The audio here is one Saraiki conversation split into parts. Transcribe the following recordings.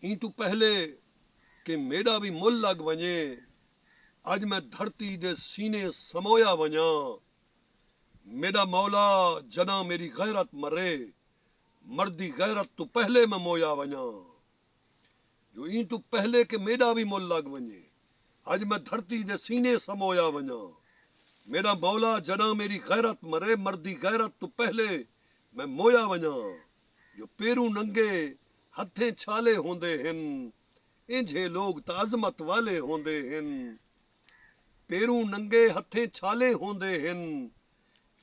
ایں توں پہلے کہ میݙا وی مل لڳ ونڄے، اڄ میں دھرتی دے سینے سمویا ونڄاں۔ میݙا مولا جݙاں میݙی غیرت مرے، مردی غیرت توں پہلے میں مویا ونڄاں۔ جو ایں توں پہلے کہ میݙا وی مل لڳ ونڄے، اڄ میں دھرتی دے سینے سمویا ونڄاں۔ میݙا مولا جݙاں میݙی غیرت مرے، مردی غیرت توں پہلے میں مویا ونڄاں۔ جو پیروں ننگے ہتھیں چھالے ہوندے ہن اینجھے لوگ تاں عظمت والے ہوندے ہن پیروں ننگے ہتھیں چھالے ہوندے ہن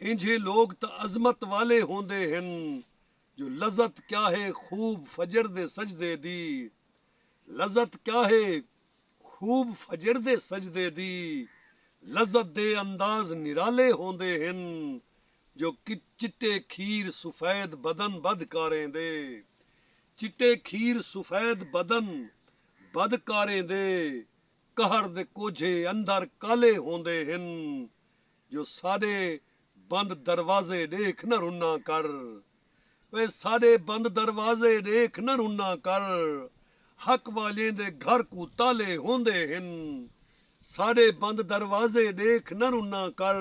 اینجھے لوگ تاں عظمت والے ہوندے ہن جو لذت کیا ہے خوب فجر دے سجدے دی لذت کیا ہے خوب فجر دے سجدے دی لذت دے انداز نرالے ہوندے ہن جو چٹے کھیر سفید بدن بدھ کاریں دے چٹے کھیر سفید بدن بدھ کاریں دے قہر دے کوجھے اندر کالے ہوندے ہن جو ساݙے بند دروازے ݙیکھ نہ رناں کر وے ساݙے بند دروازے ݙیکھ نہ رناں کر حق والیں دے گھر کوں تالے ہوندے ہن ساݙے بند دروازے ݙیکھ نہ رناں کر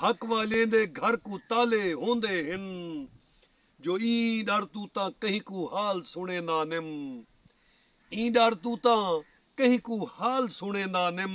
حق والیں دے گھر کوں تالے ہوندے ہن جو ایں ݙر توں تاں کہیں کوں حال سݨیندا نم ایں ݙر توں تاں کہیں کوں حال سݨیندا نم۔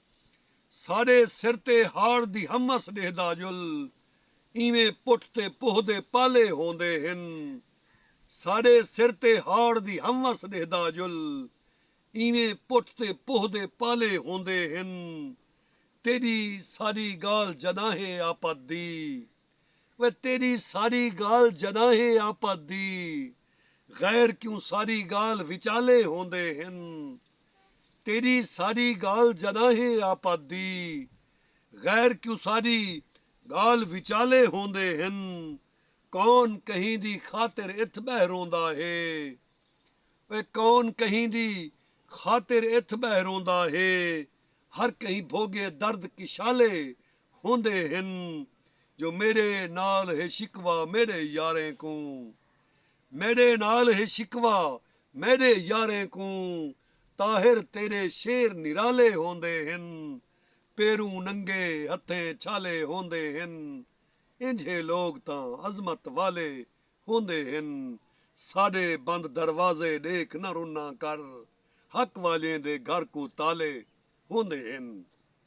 ساݙے سر تے ہاڑ دی ہمس ݙیہدا جل ایویں پٹھ تے پوہ دے پالے ہوندے ہن ساݙے سر تے ہاڑ دی ہمس ݙیہدا جل ایویں پٹھ تے پوہ دے پالے ہوندے ہن تیݙی ساݙی ڳالھ جݙانہہ اے آپت دی وے تیݙی ساݙی ڳالھ جݙانہہ اے آپت دی غیر کیوں ساݙی ڳالھ وچالے ہوندے ہن۔ تیݙی ساݙی ڳالھ جݙاہیں آپت دی غیر کیوں ساݙی ڳالھ وچالے ہوندے ہن کون کہیں دی خاطر اتھ ٻہہ روندا ہے اوئے کون کہیں دی خاطر اتھ ٻہہ روندا ہے ہر کہیں بھوڳے درد کشالے ہوندے ہن جو میݙے نال ہے شکوہ میݙے یاریں کوں میݙے نال ہے شکوہ میݙے یاریں کوں طاہر تیݙے شعر نرالے ہوندے ہن پیروں ننگے ہتھیں چھالے ہوندے ہن اینجھے لوگ تاں عظمت والے ہوندے ہن ساݙے بند دروازے ݙیکھ نہ رناں کر حق والیں دے گھر کوں تالے ہوندے ہن۔